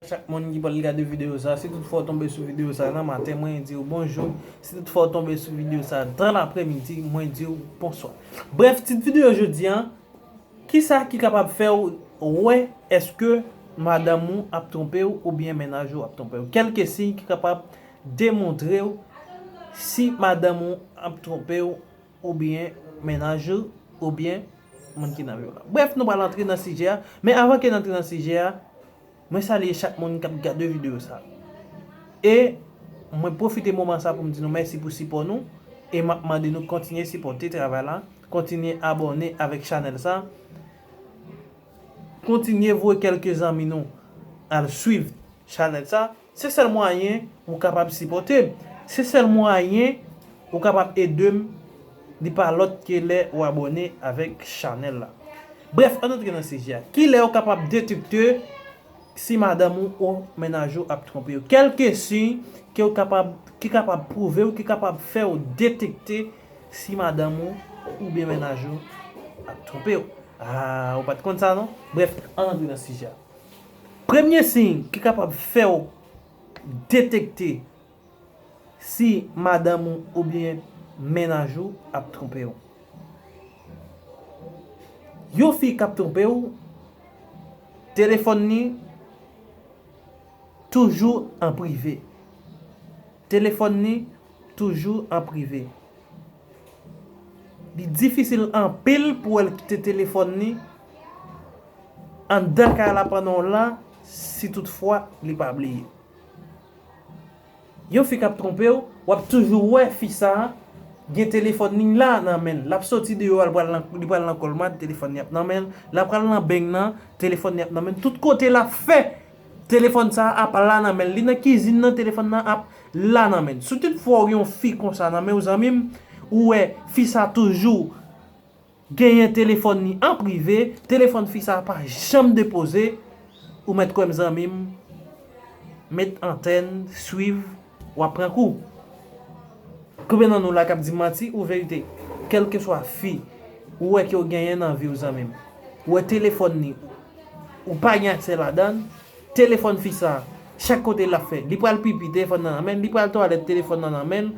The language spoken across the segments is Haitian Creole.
Chak moun ki pral gade video sa, si tout fwa w tonbe sou video sa nan maten, mwen di w bonjou, si tout fwa w tonbe sou video sa dan lapremidi, mwen di w bonswa. Brèf, tit video jodi an, kisa ki kapab fè w wè eske madanm ou ap twonpe w oubyen mennaj ou ap twonpe w. Kelke siy ki kapab demontre w si madanm ou ap twonpe w. oubyen mennaj ou, oubyen moun ki nan vi w la. Brèf, nou pral antre nan sijè a, men avan ke n antre nan sijè a, mwen salye chak moun k ap gade videyo sa. E, mwen pwofite moman sa pou m di nou mèsi pou sipò nou, e m ap mande nou kontinye sipòte travay la, kontinye abòne avèk chanèl sa, kontinye voye kèlke zanmi nou al swiv chanèl sa. Se sèl mwayen ou kapab sipòte m. Se sèl mwayen ou kapab ede m li pa lòt ke lè ou abòne avèk chanèl la. Brèf ann antre nan sijè a. Kilè ou kapab detekte si madanm ou ou mennaj ou ap twonpe ou? Kèlke siy ke ou kapab ki kapab pwouve ou ki kapab fè ou detekte si madanm ou oubyen mennaj ou ap twonpe ou? Aah ou pat konn sa non? Brèf ann antre nan sijè a. Premye siy ki kapab fè w detekte si madanm ou oubyen mennaj ou ap twonpe w. Yon fi k ap twonpe w, telefòn li toujou an prive. Telefòn li toujou an prive. Li difisil anpil pou wè l kite telefòn li anndan kay la pandan w la si tout fwa li pa bliye. Yon fi k ap twonpe w, w ap toujou wè fi sa a gen telefòn li la nan men l. L ap soti deyò a li pral nan kòlmad, telefòn li ap nan men l. L ap pral nan beny nan, telefòn li ap nan men l. Tout kote l ap fè, Telefòn sa ap la nan menl. Li nan kizin nan telefòn nan ap la nan menl. Si tout fwa ou gen yon fi konsa nan menw zanmim, ou wè fi sa toujou genyen telefòn li an prive, telefòn fi sa pa janm depoze, ou mèt kwèm zanmim, met antèn, swiv. Wap pran kou. Konbyen nan nou la kap di manti ou verite kelkeswa fi ou wè ke ou genyen nan viw zanmim ou wè telefòn ni ou pa gen aksè ladann telefòn fi sa chak kote lap fè li pral pipi telefòn nan nan menl li pral twalèt telefòn nan nan menl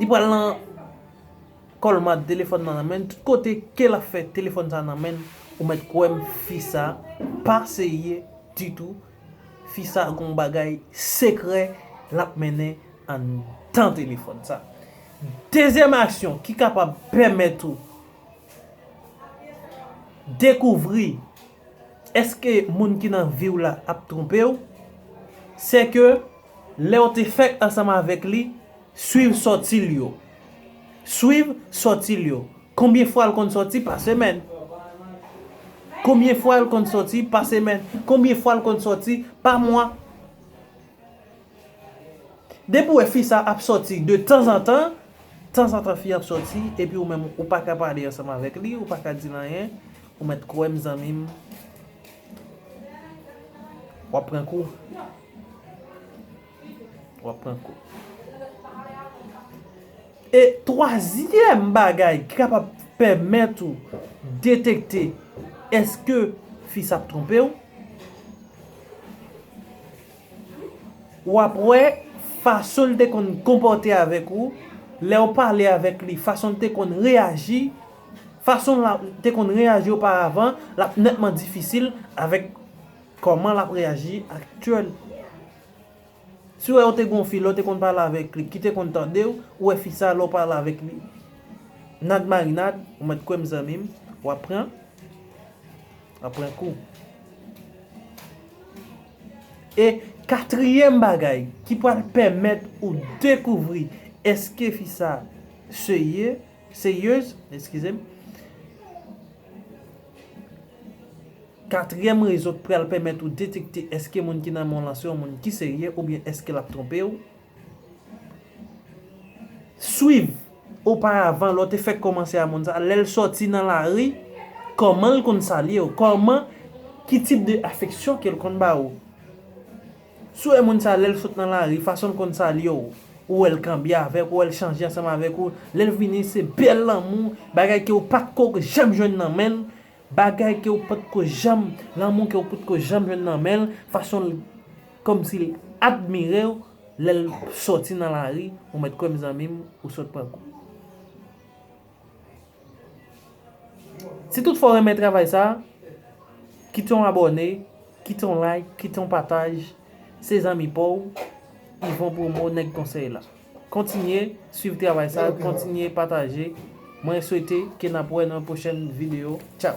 li pral nan kòlmad telefòn nan nan menl tout kote ke lap fè telefòn sa nan menl ou mèt kwèm fi sa pa serye ditou Fi sa gon bagay sekrè lap mennen anndan telefòn sa. Dezyèm aksyon ki kapab pèmèt ou dekouvri eske moun ki nan viw la ap twonpew, sèke lèw te fèk ansanm avèk li, Swiv sòti l yo. Swiv sòti l yo. Konbyen fwa l konn sòti pa semèn? Konbyen fwa l konn sòti pa semèn? Konbyen fwa l konn sòti pa mwa? Depi w wè fi sa ap sòti de tanzantan, tanzantan fi an ap sòti epi ou menm ou pa ka pale ansanm avèk li, ou pa ka di l anyen, ou mèt kwè m zanmi m, w ap pran kou. Wap pran kou. E twazyèm bagay ki kapab pèmèt ou detekte eske fi sa ap twonpe ou. Wap wè fason li te konn konpòte avèk ou, lè ou pale avèk li, fason li te konn reyaji, fason li te konn reyaji oparavan, lap nètman difisil avèk. Koman lap reaji ak tyoul. Siw wè ou te gen yon fi lè ou te konn pale avèk li ki te konn tandew ou wè fi sa lè ou pale avèk li nad marinad ou mèt kwèm zanmim wap pran wap pran kou e katriyèm bagay ki pwal pèmèt ou dekouvri eske fi sa serye. Serieuse eskizem. Katryèm rezo k pral pèmèt ou detekte èske moun ki nan men w lan se yon moun ki serye oubyen èske l ap twonpe w. Swiv oparavan lè w te fèk kòmanse a moun sa, lè l sòti nan lari, kòman l konn salye w, kòman, ki tip de afeksyon ke l konn ba ou. Si w wè moun sa lè l sot nan lari, fason l konn salye w, ou wè l kanbye avèk ou, ou wè l chanje ansanm avèk ou, lè l vini se bèl lanmou, bagay ke w pat ko janm jwenn nan men l, bagay ke w pat ko janm, lanmou ke w pat ko janm jwenn nan men l, fason l kòmsi l admire w lè l sòti nan lari, ou mèt kwè m zanmi m ou sot pran kou. Si tout fwa w renmen travay sa, kite yon abòne, kite yon like, kite yon pataj, se zanmi pa w, Yvon Promo nèg konsèy la. Kontinye swiv travay sa, kontinye pataje, mwen swete ke n ap wè nan yon pwochèn video. Tchaw!